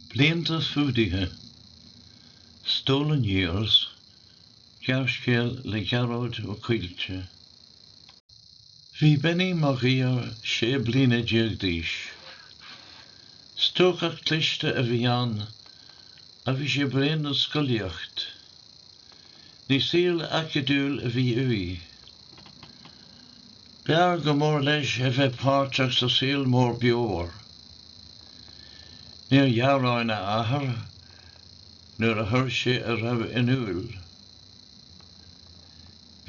Blianta Fuadaithe, Stolen Years, gearrscéal le Gearóid Ó Coillte. Bhí Benny Mag Uidhir sé bliana déag d'aois. Stócach cliste a bhí ann agus sé bréan den scolaíocht. Ní saol acadúil a bhí uaidh. B'fhearr go mór leis a bheith páirteach sa saol mór beomhar. Níor ghearán a athair nuair a chuir sé a rún in iúil.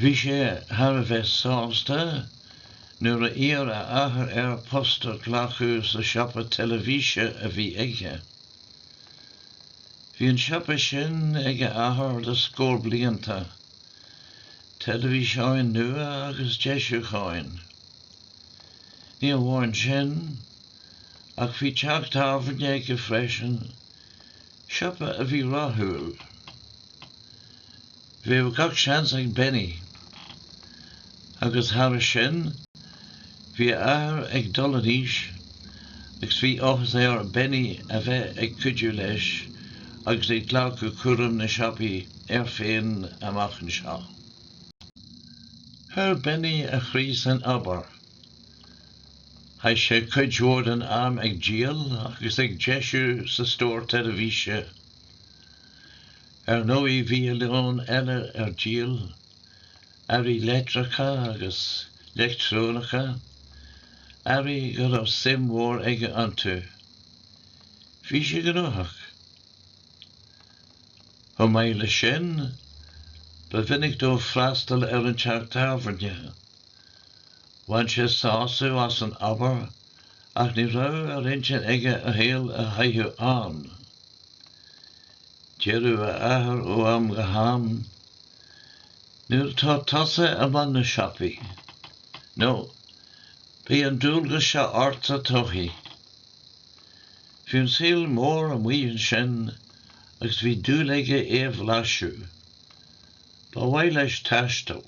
Bhí sé thar a bheith sásta nuair a d'iarr a athair air post a ghlacadh sa siopa teilifíse a bhí aige. Bhí an siopa sin ag a athair le scór blianta. teilifíseáin nua agus deisiúcháin. Ní amháin sin, ach bhí teach tábhairne aige freisin, siopa a bhí rathúil. Bheadh gach seans ag Benny. Agus thairis sin, Bhí a athair ag dul in aois agus bhí áthas ar Benny a bheith ag cuidiú leis agus ag glacadh cúram na siopaí air féin amach anseo. Chuir Benny a chroí san obair. Chaith sé cuid mhór den am ag díol agus ag deisiú sa stór teilifíse. Ar ndóigh bhí a lán eile ar díol earraí leictreacha agus leictreonacha, earraí go raibh suim mhór aige iontu. Bhí sé gnóthach. Chomh maith leis sin, ba mhinic dó freastal ar an teach tábhairne. Bhain sé sásamh as an obair ach ní raibh ar intinn aige a shaol a chaitheamh ann. Deireadh a athair ó am go ham, Nuair a bheas tusa i mbun na siopaí, nó beidh an dualgas seo ort sa todhchaí. Bhí an saol mór amuigh ansin agus bhí dúil aige é a bhlaiseadh. Ba mhaith leis taisteal.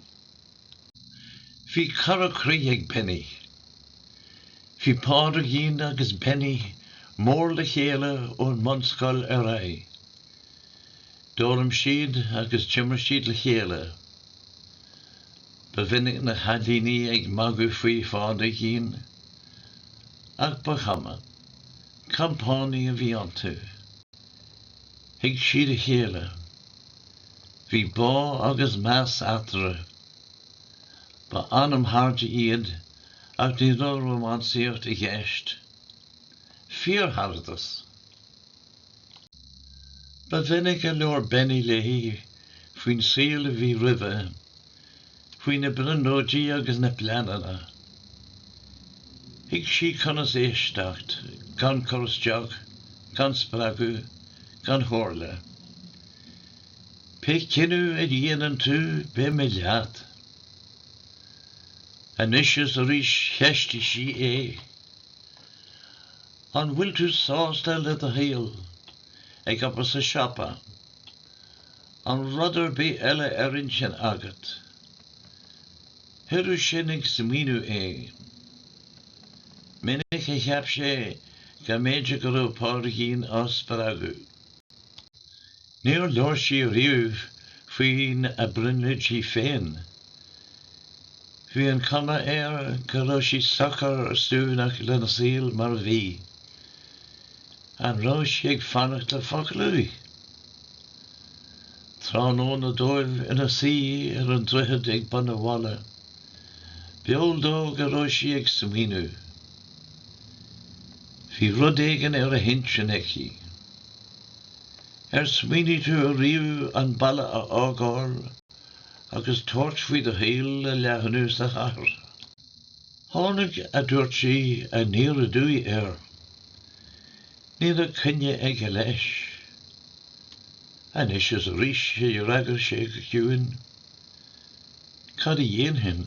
Bhí cara croí ag Benny. Bhí Pádraigín agus Benny mór le chéile ón mbunscoil ar aghaidh. D'fhoghlaim siad agus d'imir siad le chéile. Ba mhinic na cailíní ag magadh faoi Phádraigín, ach ba chuma, compánaigh a bhí iontu. Thuig siad a chéile. Bhí bá agus meas eatarthu. Ba anamchairde iad ach ní raibh rómánsaíocht i gceist. Fíorcharadas. Ba mhinic a labhair Benny léi faoin saol a bhí roimhe, faoi na brionglóidí agus na pleananna. Thuig sí conas éisteacht gan cur isteach, gan spreagadh, gan chomhairle. Pé cinneadh a dhéanann tú, beidh mé leat. Anois is arís cheistigh sí é. An bhfuil tú sásta le do shaol, ag obair sa siopa? Aon rud ar bith eile ar intinn agat? Chuireadh sin ag smaoineamh é. Minic a cheap sé go mb'fhéidir go raibh Pádraigín á spreagadh. Níor labhair sí riamh faoina brionglóidí féin. Bhí an chuma air go raibh sí socair suaimhneach lena saol mar a bhí. An raibh sí ag fanacht le focal uaidh? Tráthnóna dóibh ina suí ar an droichead ag bun an bhaile, b'eol dó go raibh sí ag smaoineamh. Bhí rud éigin ar a hintinn aici. Ar smaoinigh tú riamh an baile a fhágáil agus tabhairt faoi do shaol a leathnú sa chathair? Tháinig a ndúirt sí aniar aduaidh air. Ní raibh coinne aige leis. Anois is arís a d'fhreagair sé go ciúin, Cad a dhéanfainn?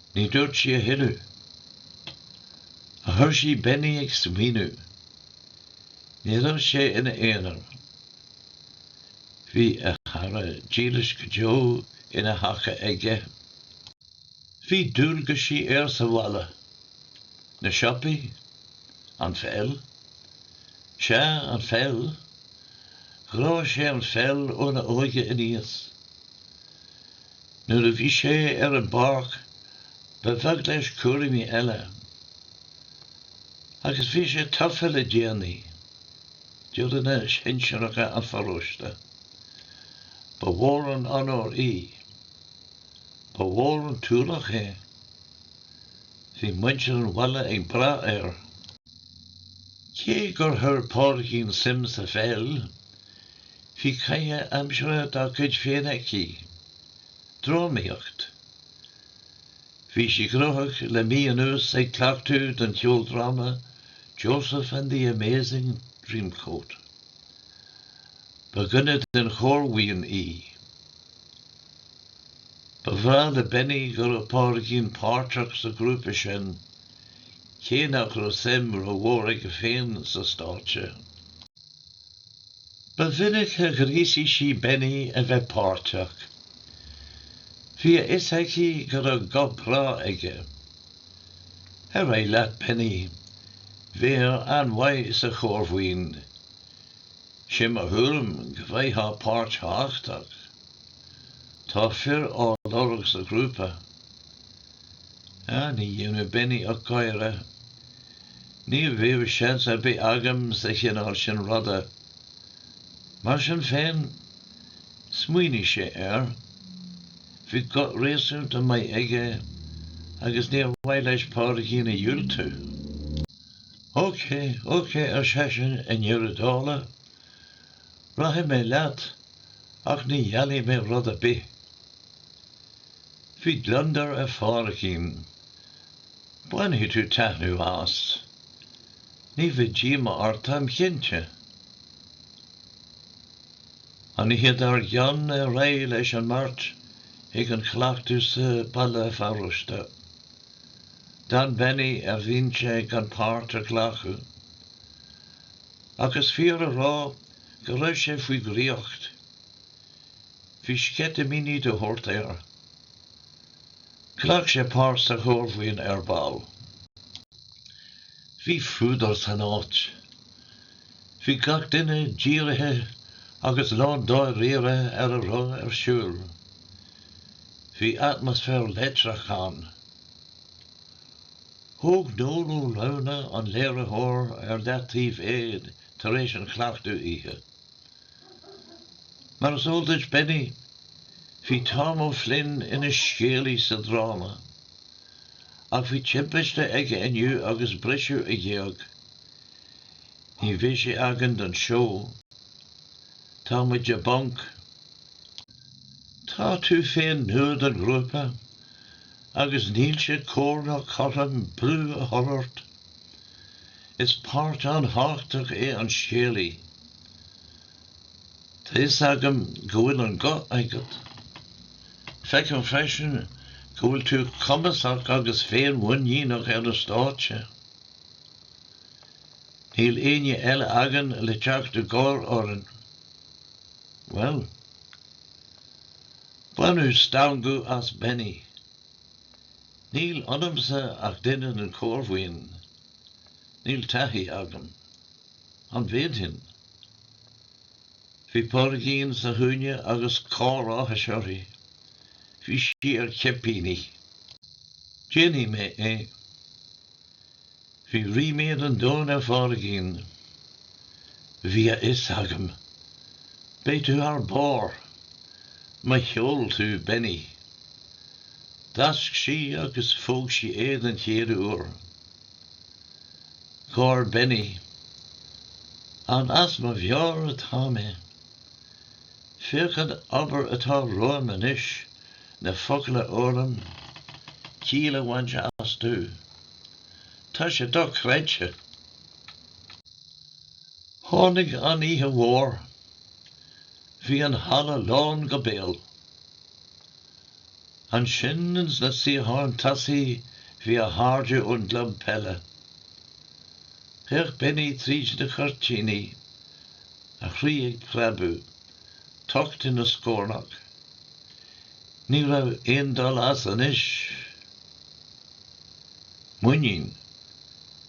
Ní dúirt sí a thuilleadh. Ach chuir sí Benny ag smaoineamh. Ní raibh sé ina aonar. Bhí a chara dílis go deo ina thaca aige. Bhí dualgaisí air sa bhaile. An siopa. An pheil. Sea, an pheil. Ghráigh sé an pheil óna óige aníos. Nuair a bhí sé ar an bpáirc, ba bheag leis cúraimí eile. Agus bhí sé tofa le déanaí d'fhoireann shinsearacha an pharóiste. Ba mhór an onóir í. Ba mhór an t-ualach é. Bhí muintir an bhaile ag brath air. Cé gur chuir Pádraigín suim sa pheil, Bhí caitheamh aimsire dá cuid féin aici, drámaíocht. Bhí sí gnóthach le mí anuas ag cleachtadh don cheoldráma Joseph and the Amazing Dreamcoat. Ba dhuine den chórbhuíon í. Ba bhreá le Benny go raibh Pádraigín páirteach sa ghrúpa sin, cé nach raibh suim rómhór aige féin sa stáitse. Ba mhinic a ghríosaigh sí Benny a bheith páirteach. Bhí a fhios aici go raibh guth breá aige. Ar aghaidh leat Benny, bheifeá an-mhaith sa chórbhuíon. Sé mo thuairim go bhfaighfeá páirt thábhachtach. Tá fir á lorg sa ghrúpa. Ní dhéanfadh Benny ach gáire. Ní bheadh seans ar bith agam sa chineál sin ruda. Mar sin féin, smaoinigh sé air. Bhí guth réasúnta maith aige agus níor mhaith leis Pádraigín a dhiúltú. OK, OK, ar seisean i ndeireadh dála, Rachaidh mé leat, ach ní gheallfaidh mé rud ar bith. Bhí gliondar ar Phádraigín. Bainfidh tú taitneamh as. Ní bheidh díomá ort táim cinnte. An oíche dár gcionn ar aghaidh leis an mbeirt chuig an chleachtadh sa halla paróiste. D'fhan Benny ar bhinse gan páirt a ghlacadh. Ach is fíor a rá go raibh sé faoi dhraíocht. Bhí sceitimíní de shórt air. Ghlac sé páirt sa chórbhuíon ar ball. Bhí fuadar san áit. Bhí gach duine dírithe agus lándáiríre ar a raibh ar siúl. Bhí atmaisféar leictreach ann. Thóg Noel Ó Lamhna, an léiritheoir, ar leataobh é tar éis an chleachtaidh oíche. Mar is eol duit, Benny, bhí Tom O'Flynn ina scéalaí sa dráma. Ach bhí timpiste aige inniu agus briseadh a ghéag. Ní bheidh sé againn don seó. Tá muid i bponc. Tá tú féin nua don ghrúpa, Agus níl sé cóir ná cothrom brú a chur ort. Is páirt an-thábhachtach é an scéalaí. Tá fhios agam go bhfuil an guth agat. Feicim freisin go bhfuil tú cumasach agus féin-mhuiníneach ar an stáitse. Níl éinne eile againn le teacht i gcabhair orainn. Bhuel. Baineadh stangadh as Benny. Níl ionamsa ach duine den chórbhuíon. Níl taithí agam. An bhféadfainn? Bhí Pádraigín sa chúinne agus cár áthais uirthi. Bhí sí ar cipíní. Déanfaidh mé é. Bhí ríméad an domhain ar Phádraigín. Bhí a fhios agam. Beidh tú thar barr! Mo cheol thú Benny. D'fháisc sí agus phóg sí é den chéad uair. Gháir Benny. An as mo mheabhair atá mé? Féach an obair atá romham anois, na focail a fhoghlaim, ciall a bhaint astu. Tá sé dochreidte. Tháinig an oíche mhór. Bhí an halla lán go béal. Ansin ins na suíocháin tosaigh bhí a chairde ón gclub peile. D'fhéach Benny tríd na cuirtíní, a chroí ag preabadh, tocht ina scornach. Ní raibh aon dul as anois. Muinín.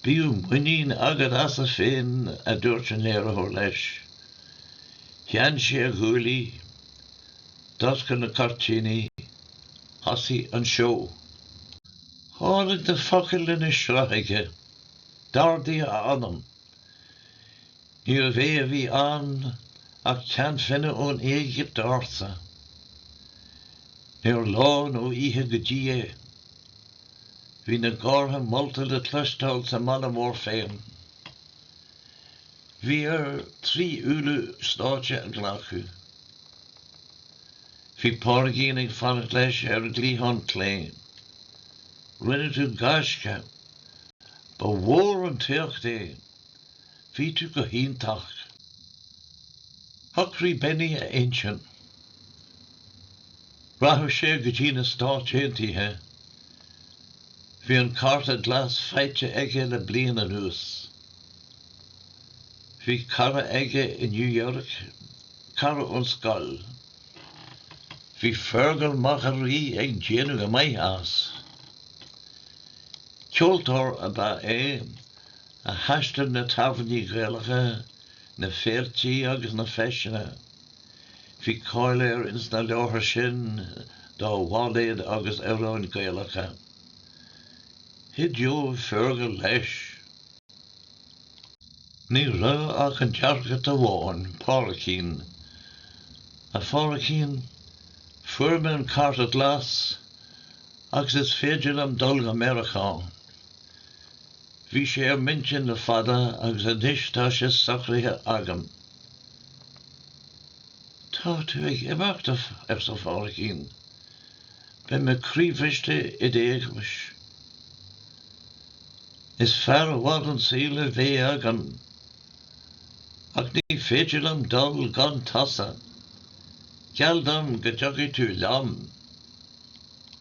Bíodh muinín agat asat féin, a dúirt an léiritheoir leis. Theann sé a ghuaillí, d'oscail na cuirtíní, thosaigh an seó. Tháinig na focail ina sruth aige, d'ardaigh a anam. Níorbh é a bhí ann ach ceannfhine ón Éigipt ársa. Níor lá ná oíche go dtí é. Bhí na gártha molta le cloisteáil sa mbaile mór féin. Bhí air trí uaire an stáitse a ghlacadh. Bhí Pádraigín ag fanacht leis ar an gcliathán clé. Rinne tú gaisce. Ba mhór an t-éacht é. Bhí tú go hiontach. Shocraigh Benny a intinn. Rachadh sé go dtí na Stáit Aontaithe. Bhí an cárta glas faighte aige le bliain anuas. Bhí cara aige i New York, cara ón scoil. Bhí Fergal Mac a Rí ag déanamh go maith as. Ceoltóir ab ea é a thaistil na tábhairní Gaelacha, na féiltí agus na feiseanna. Bhí cáil air ins na láthair sin dá bhailéid agus amhráin Gaelacha. Chuideodh Fergal leis. Ní raibh ach an deacracht amháin, Pádraigín. A Phádraigín, fuair mé an cárta glas agus is féidir liom dul go Méiriceá. Bhí sé ar m'intinn le fada agus anois tá sé socraithe agam. Tá tú ag imeacht uaim, arsa Pádraigín. Beidh mé croíbhriste i d'éagmais. Is fearr i bhfad an saol a bheidh agam. Ach ní féidir liom dul gan tusa. Geall dom go dtiocfaidh tú liom.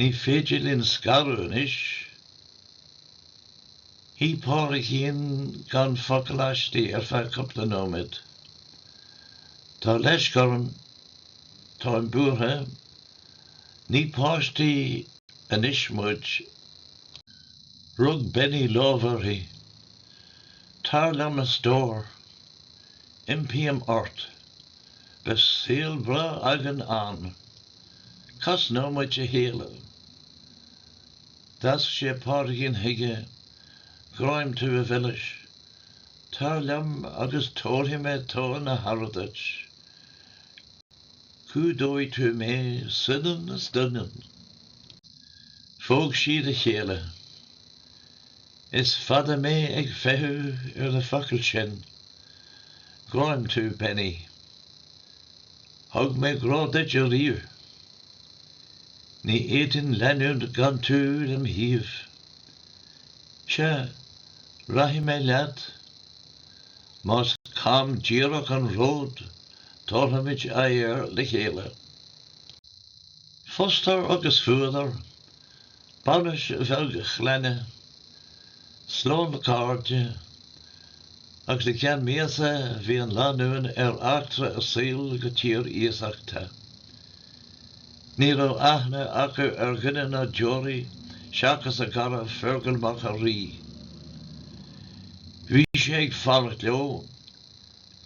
Ní féidir linn scaradh anois. Shuigh Pádraigín gan focal aisti ar feadh cúpla nóiméad. Tá leisc orm. Táim buartha. Ní páistí anois muid. Rug Benny lámh uirthi. Tar liom, a stór. Impím ort. Beidh saol breá againn ann. Cosnóidh muid a chéile. D'fháisc sé Pádraigín chuige, Gráim tú a mhilis. Tar liom agus tabharfaidh mé togha na haire duit. Cumhdóidh tú mé soineann is doineann. Phóg siad a chéile. Is fada mé ag feitheamh ar na focail sin. Gráim tú, Benny. Thug mé grá duit ariamh. Ní fhéadfainn leanúint gan tú lem' thaobh. Sea, rachaidh mé leat. Más cam díreach an ród, tabharfaimid aghaidh air le chéile. Fústar agus fuadar, bainis ag a chlainne, slán le cairde, agus i gceann míosa bhí an lánúin ar eachtra a saoil go tír iasachta. Ní raibh aithne acu ar dhuine ná deoraí seachas a gcara Fergal Mac a' Rí. Bhí sé ag fanacht leo,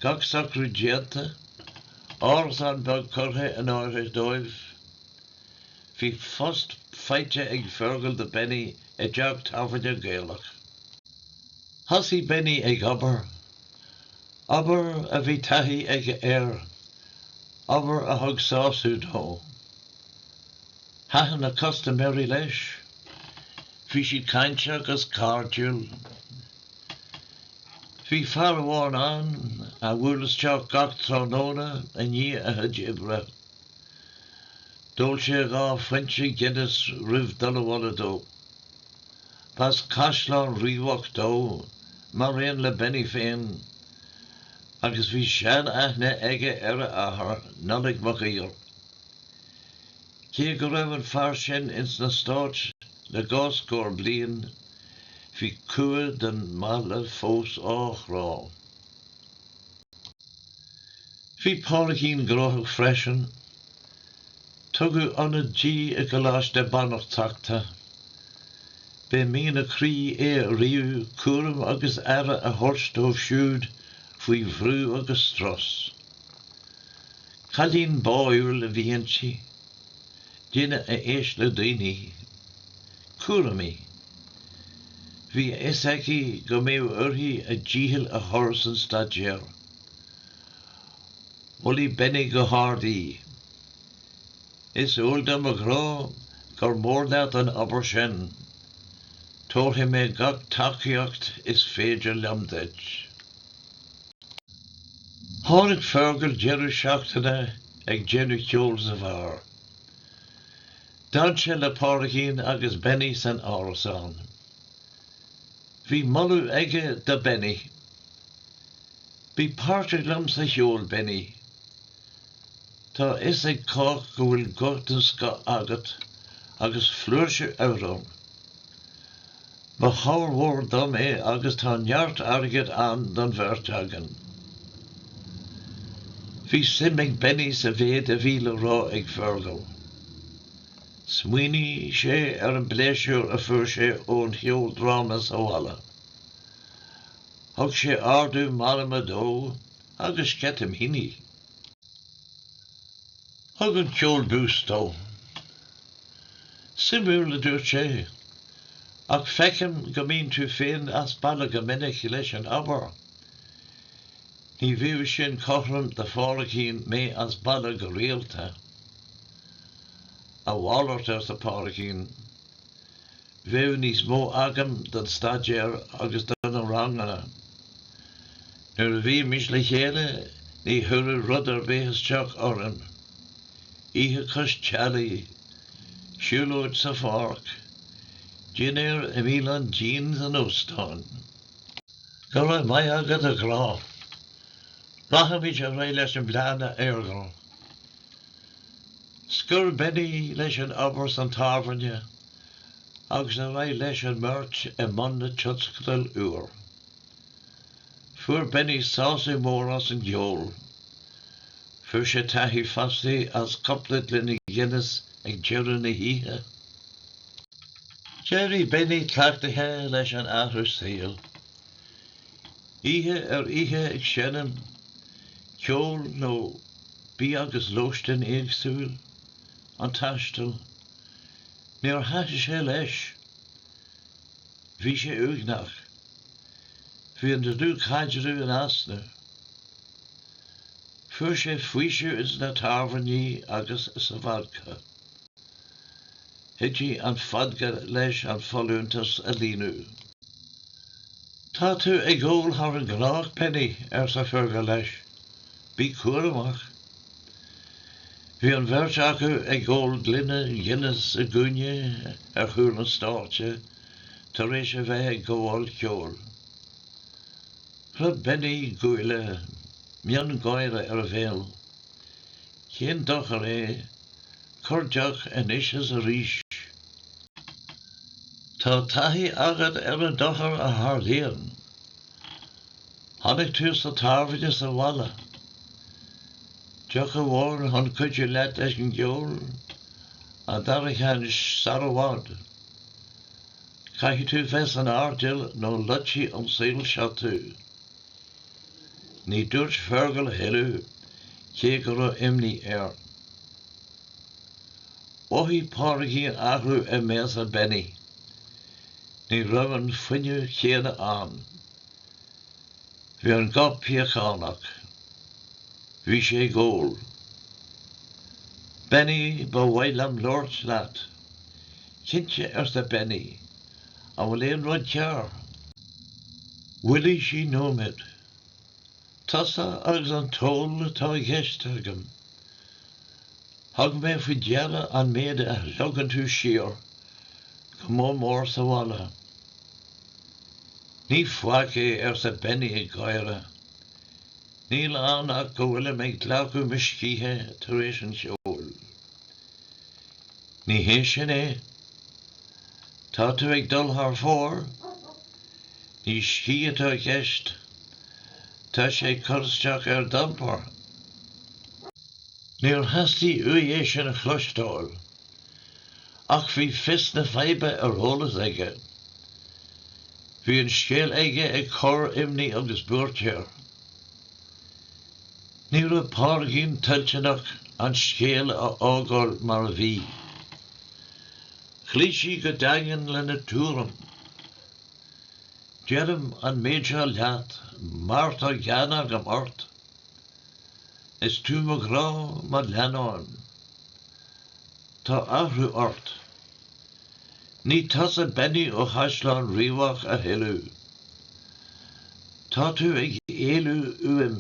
gach socrú déanta, árasán beag curtha in áirithe dóibh. Bhí post faighte ag Fergal do Benny i dteach tábhairne Gaelach. Thosaigh Benny ag obair, obair a bhí taithí aige air, obair a thug sásamh dó. Thaitin na custaiméirí leis, bhí siad cainteach 'gus cairdiúil. Bhí fear amháin ann a bhuail isteach gach tráthnóna i ndiaidh a chuid oibre. D'ól sé dhá phointe Guinness roimh dul abhaile dó. B'as an gCaisleán Riabhach dó, maraon le Benny féin, agus bhí sean-aithne aige ar a athair, Nollaig Mac Uidhir. Cé go raibh an fear sin ins na Stáit le dhá scór bliain, bhí cumha don mbaile fós á chrá. Bhí Pádraigín gnóthach freisin. Tugadh ionad di i gColáiste Banaltrachta. B'é mian a croí é riamh cúram agus aire a thabhairt dóibh siúd faoi bhrú agus strus. Cailín báúil a bhí inti. Duine a éist le daoine. Cúramaí. Bhí a fhios aici go mbeadh uirthi a dícheall a chur san staidéar. Mholadh Benny go hard í. Is eol dom, a ghrá, gur mór leat an obair sin. Tabharfaidh mé gach tacaíocht is féidir liom duit. Tháinig Fergal deireadh seachtaine ag déanamh ceoil sa bheár. D'fhan sé le Pádraigín agus Benny san árasán. Bhí moladh aige do Benny. Bí páirteach liom sa cheol, Benny. Tá a fhios ag cách go bhfuil guth den scoth agat agus flúirse amhrán. Ba chabhair mhór dom é agus tá neart airgid ann don bheirt againn. Bhí suim ag Benny sa mhéid a bhí le rá ag Fergal. Smaoinigh sé ar an bpléisiúr a fuair sé ón cheoldráma sa bhaile. Thug sé ardú meanman dó agus sceitimíní. Thug an ceol buzz dó. Suimiúil, a dúirt sé, ach feicim go mbíonn tú féin as baile go minic leis an obair. Ní bheadh sin cothrom do Phádraigín mé as baile go rialta. A mhalairt, arsa Pádraigín, bheadh níos mó agam don staidéar agus do na ranganna. Nuair a bhímis le chéile ní chuirfeadh rud ar bith isteach orainn. Oíche cois teallaigh. Siúlóid sa pháirc. Dinnéar i mbialann dian san óstán. Go raibh maith agat a ghrá. Rachaimid ar aghaidh leis an bplean a Fheargal. Scoir Benny leis an obair san tábhairne agus ar aghaidh leis an mbeirt i mbun na tionscadal úr. Fuair Benny sásamh mór as an gceol. Fuair sé taitneamh fosta as cupla gloine Guinness ag deireadh na hoíche. D'éirigh Benny cleachtaithe leis an athrú saoil. Oíche ar oíche ag seinm ceoil nó bia agus lóistín éagsúil, an taisteal, Níor thaitin sé leis. Bhí sé uaigneach. Bhí an dlúthchaidreamh in easnamh. Fuair sé faoiseamh ins na tábhairní agus sa vodca. Chuidigh an vodca leis an folúntas a líonadh. Tá tú ag ól thar an gnách, Benny, arsa Fergal leis. Bí cúramach. Bhí an bheirt acu ag ól gloine Guinness i gcúinne ar chúl an stáitse tar éis a bheith ag gabháil cheoil. Chroith Benny a ghuaillí, miongháire ar a bhéal. Cén dochar é corrdheoch anois is arís. Tá taithí agat ar an dochar a tharlaíonn Chonaic tú sa tábhairne sa bhaile. Deoch amháin chun cuidiú leat leis an gceol, an dara cheann sara bhfad, caithfidh tú bheith san airdeall nó loitfidh an saol seo tú. Ní dúirt Fergal a thuilleadh cé go raibh imní air. Mhothaigh Pádraigín athrú i mbéasa Benny. Ní raibh an fuinneamh céanna ann. Bhí an guth piachánach. Bhí sé ag ól. Benny, ba mhaith liom labhairt leat. Cinnte, arsa Benny. An bhfuil aon rud cearr? Mhoilligh sí nóiméad. Tusa agus an t-ól atá i gceist agam. Thug mé faoi deara an méid a shlogann tú siar, go mór mór sa bhaile. Ní faic é, arsa Benny ag gáire. Níl ann ach go bhfuilim ag glacadh mo scíthe tar éis an cheoil. Ní hé sin é. Tá tú ag dul thar fóir. Ní scíth atá i gceist. Tá sé ag cur isteach ar d'iompar. Níor theastaigh uaidh é sin a chloisteáil, ach bhí fios na faidhbe ar eolas aige. Bhí an scéal aige ag cur imní agus buairt air. Ní raibh Pádraigín toilteanach an scéal a fhágáil mar a bhí. Chloígh sí go daingean lena tuairim. Deirim an méid seo leat mar tá gean agam ort. Is tú mo ghrá, mo leannán. Tá athrú ort. Ní tusa Benny ó Chaisleán Riabhach a thuilleadh. Tá tú ag éalú uaim.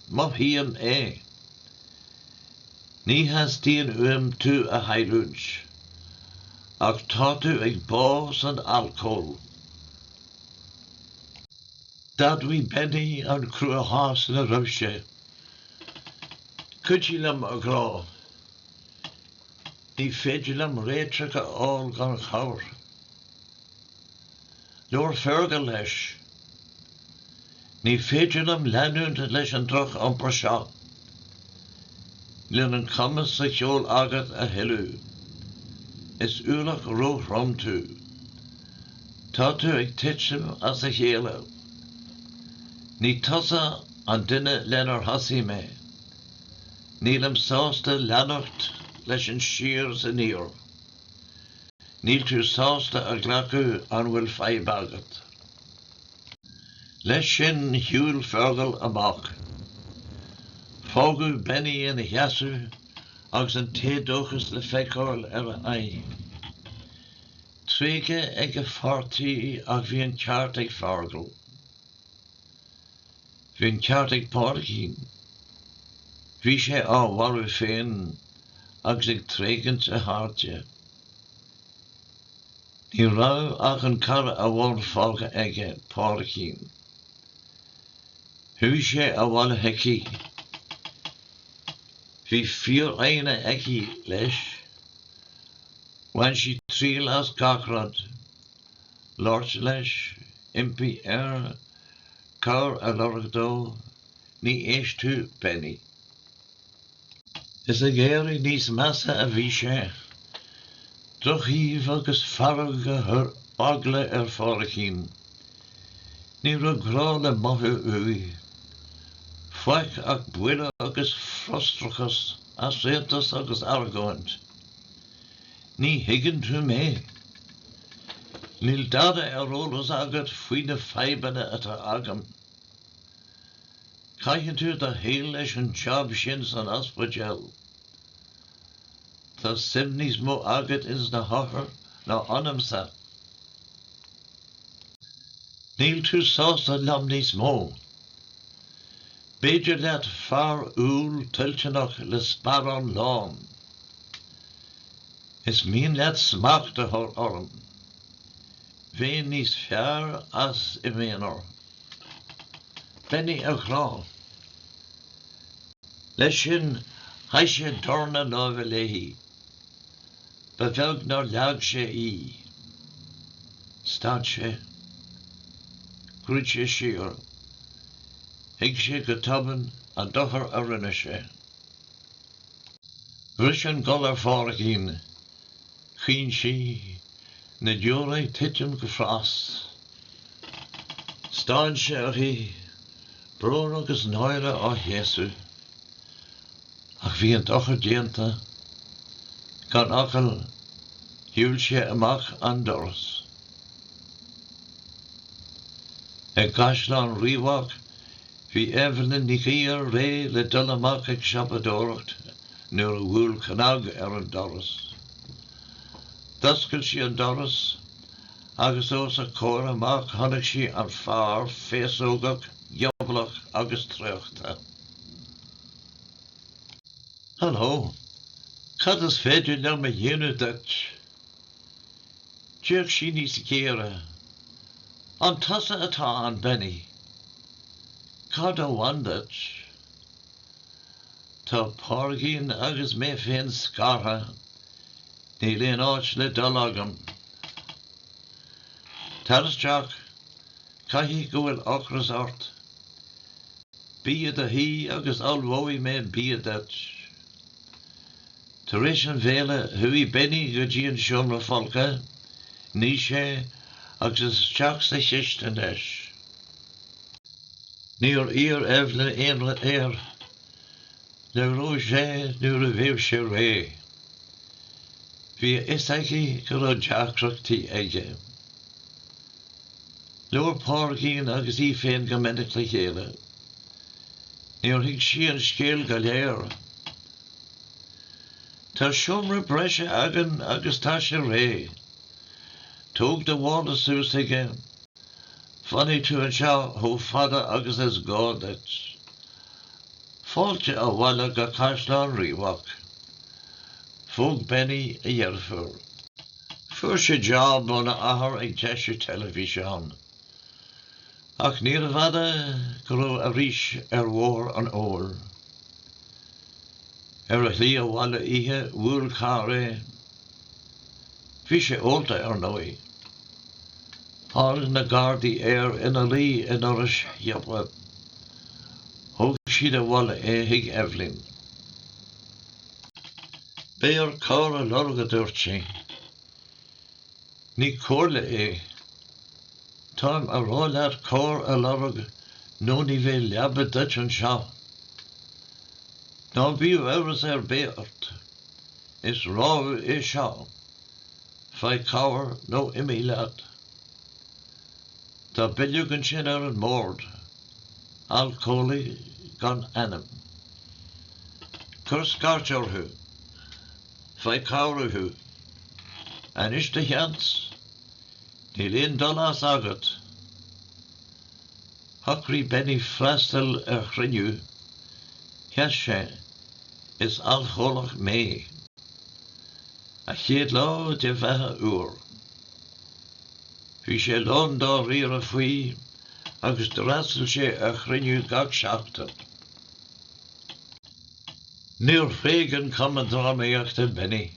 Mothaím é. Ní theastaíonn uaim tú a chailliúint. Ach tá tú ag bá san alcól. D'admhaigh Benny an cruachás ina raibh sé. Cuidigh liom, a ghrá. Ní féidir liom réiteach a fháil gan chabhair. Labhair Fergal leis. Ní féidir liom leanúint leis an droch-iompar seo. Níl an cumas sa cheol agat a thuilleadh. Is ualach róthrom tú. Tá tú ag titim as a chéile. Ní tusa an duine lenar thosaigh mé. Nílim sásta leanacht leis an siar is aniar. Níl tú sásta a ghlacadh an bhfuil fadhb agat. Leis sin shiúil Fergal amach. Fágadh Benny ina sheasamh agus an t-éadóchas le feiceáil ar a aghaidh. Tréigthe ag a pháirtí ach bhí an ceart ag Fergal. Bhí an ceart ag Pádraigín. Bhí sé á mharú féin agus ag tréigint a chairde. Ní raibh ach an cara amháin fágtha aige, Pádraigín. Chuaigh sé abhaile chuici. Bhí foighne aici leis. Bhain sí triail as gach rud. Labhairt leis, impí air, Cabhair a lorg dó, ní éistfeadh, Benny. Is ag éirí níos measa a bhí sé. Drochaoibh agus fearg a chuir eagla ar Phádraigín. Ní raibh grá le mothú uaidh. Faic ach buile agus frustrachas, easaontas agus argóint. Ní thuigeann tú mé. Níl dada ar eolas agat faoi na fadhbanna atá agam. Caitheann tú do shaol leis an jab sin san ospidéal. Tá suim níos mó agat ins na hothair ná ionamsa. Níl tú sásta liom níos mó. B'fhearr leat fear umhal toilteanach le sparán lán. Is mian leat smacht a chur orm. Bheinn níos fearr as i m'aonar. Benny, a ghrá. Leis sin, sháigh sé dorn a láimhe léi. Ba bheag nár leag sé í. Stad sé. Dhruid sé siar. Thuig sé go tobann an dochar a rinne sé. Bhris an gol ar Phádraigín. Chaoin sí. Na deora ag titim go fras. Stán sé uirthi, brón agus náire á chéasadh. Ach bhí an dochar déanta. Gan focal, shiúil sé amach an doras. I gCaisleán Riabhach Bhí Evelyn Nic Aodha réidh le dul amach ag siopadóireacht nuair a bhuail cnag ar an doras. D'oscail sí an doras agus os a comhair amach chonaic sí an fear féasógach, gioblach agus traochta. Hello. Cad is féidir liom a dhéanamh duit? D'fhéach sí níos géire. An tusa atá ann Benny? Cad a bhain duit? Tá Pádraigín agus mé féin scartha, níl aon áit le dul agam. Tar isteach, caithfidh go bhfuil ocras ort. Bí i do shuí agus ullmhóidh mé bia duit. Tar éis an bhéile, chuaigh Benny go dtí an seomra folctha, nigh sé, agus isteach sa chistin leis. Níor iarr Eibhlín aon rud air, labhródh sé nuair a bheadh sé réidh. Bhí a fhios aici go raibh deacrachtaí aige. Labhair Pádraigín agus í féin go minic le chéile. Níor thuig sí an scéal go léir. Tá seomra breise againn agus tá sé réidh. Tóg do mhála suas chuige. Fanfaidh tú anseo chomh fada agus is gá duit. Fáilte abhaile go Caisleán Riabhach. Phóg Benny a dheirfiúr. Fuair sé jab óna athair ag deisiú teilifíseán. Ach níorbh fhada go raibh arís ar bhóthar an óil. Ar a shlí abhaile oíche bhuail carr é. Bhí sé ólta ar ndóigh. Tháinig na gardaí air ina luí i ndoras shiopa. Thóg siad abhaile é chuig Eibhlín. Beidh ort cabhair a lorg a dúirt sí. Ní comhairle é. Táim ag rá leat cabhair a lorg nó ní bheidh leaba duit anseo. Ná bíodh amhras ar bith ort. Is rabhadh é seo. Faigh cabhair nó imigh leat. Tá bileog ansin ar an mbord. Alcólaí gan ainm. Cuir scairt orthu. Faigh cabhair uathu anois do sheans níl aon dul as agat. Shocraigh Benny freastal ar chruinniú. Sheas sé, Is alcólach mé. An chéad lá de bheatha úr. Bhí sé lán dáiríre faoi agus d'fhreastail sé ar chruinniú gach seachtain. Níor thréig an Cumann Drámaíochta Benny.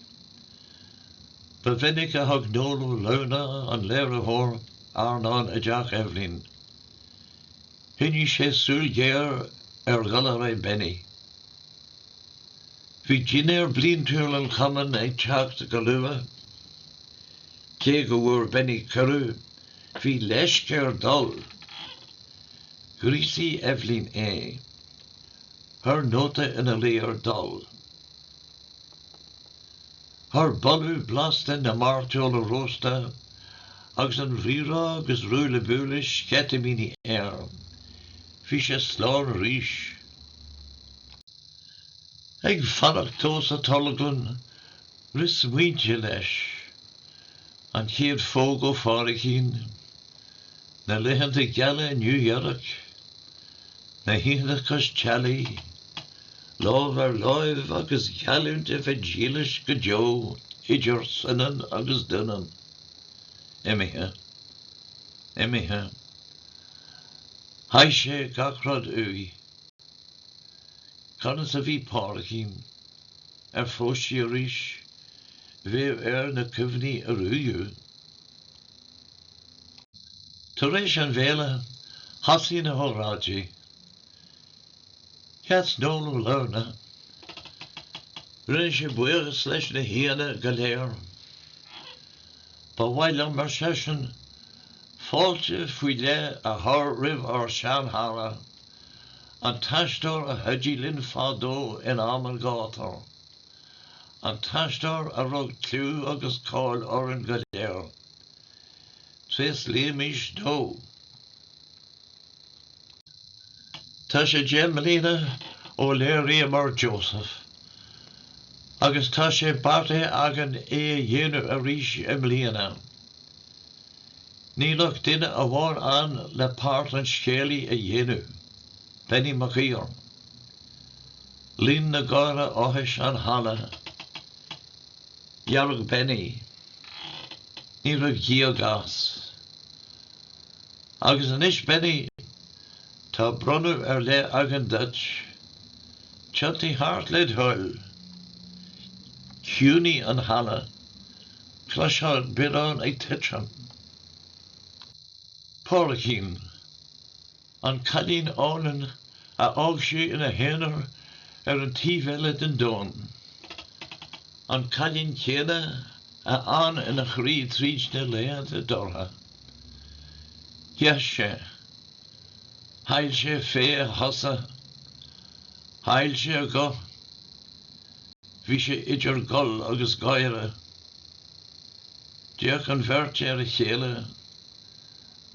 Ba mhinic a thug Noel Ó Luanaigh, an léiritheoir, airneán i dteach Eibhlín. Choinnigh sé súil ghéar ar dhul ar aghaidh Benny. Bhí dinnéar bliantúil an Chumainn ag teacht go luath. Cé go bhfuair Benny cuireadh, bhí leisc air dul. Ghríosaigh Eibhlín é. thar nóta ina luí ar dul thar boladh blasta na mairteola rósta agus an rírá agus ruaille buaille sceitimíní air. Bhí sé slán arís. Ag fanacht dó sa tolglann Rith smaointe leis, an chéad phóg ó Phádraicín, na laethanta geala i Nua-Eabhrac, na hoícheanta cois teallaigh, lámh ar láimh agus geallúint a bheith dílis go deo idir soineann agus doineann. Imithe. Imithe. Chaith sé gach rud uaidh. Conas a bhí Pádraicín? ar phós sí arís? Bheadh air na cuimhní a ruaigeadh. Tar éis an bhéile, thosaigh na hóráidí. Sheas Noel Ó Liornaigh. Rinne sé buíochas leis na haíonna go léir. Ba mhaith liom, ar seisean, fáilte faoi leith a chur roimh ár seanchara, An t-aisteoir a chuidigh linn fadó in am an ghátair. An t-aisteoir a rug clú agus cáil orainn go léir. Tréaslaímis dó. Tá sé deich mbliana ó léiríomar Joseph agus tá sé beartaithe againn é a dhéanamh arís i mbliana. Níl ach duine amháin ann le páirt an scéalaí a dhéanamh, Benny Mac Aoidh. Líon na gártha áthais an halla. Dhearg Benny. Ní raibh gíog as. Agus anois Benny, tá bronnadh ar leith againn duit. Tiontaigh thart led' thoil. Chiúnaigh an halla. Chloisfeá biorán ag titim. Pádraicín, An cailín álainn a fhág sé ina haonar ar an taobh eile den domhan. An cailín céanna a fhan ina chroí tríd na laethanta dorcha. Sheas sé. Chaill sé féith a chosa. Chaill sé a ghuth. Bhí sé idir gol agus gáire. D'fhéach an bheirt ar a chéile.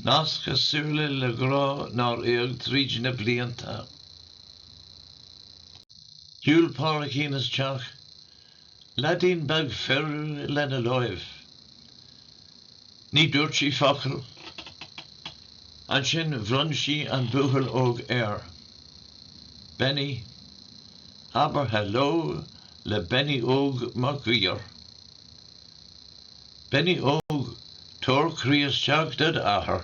Nasc a súile le grá nár éag tríd na blianta. Shiúil Pádraicín isteach, leaidín beag fir lena láimh. Ní dúirt sí focal. Ansin bhronn sí an buachaill óg air. Benny. Abair hello le Benny Óg Mac Guidhir. Benny Óg, tabhair croí isteach dod' athair.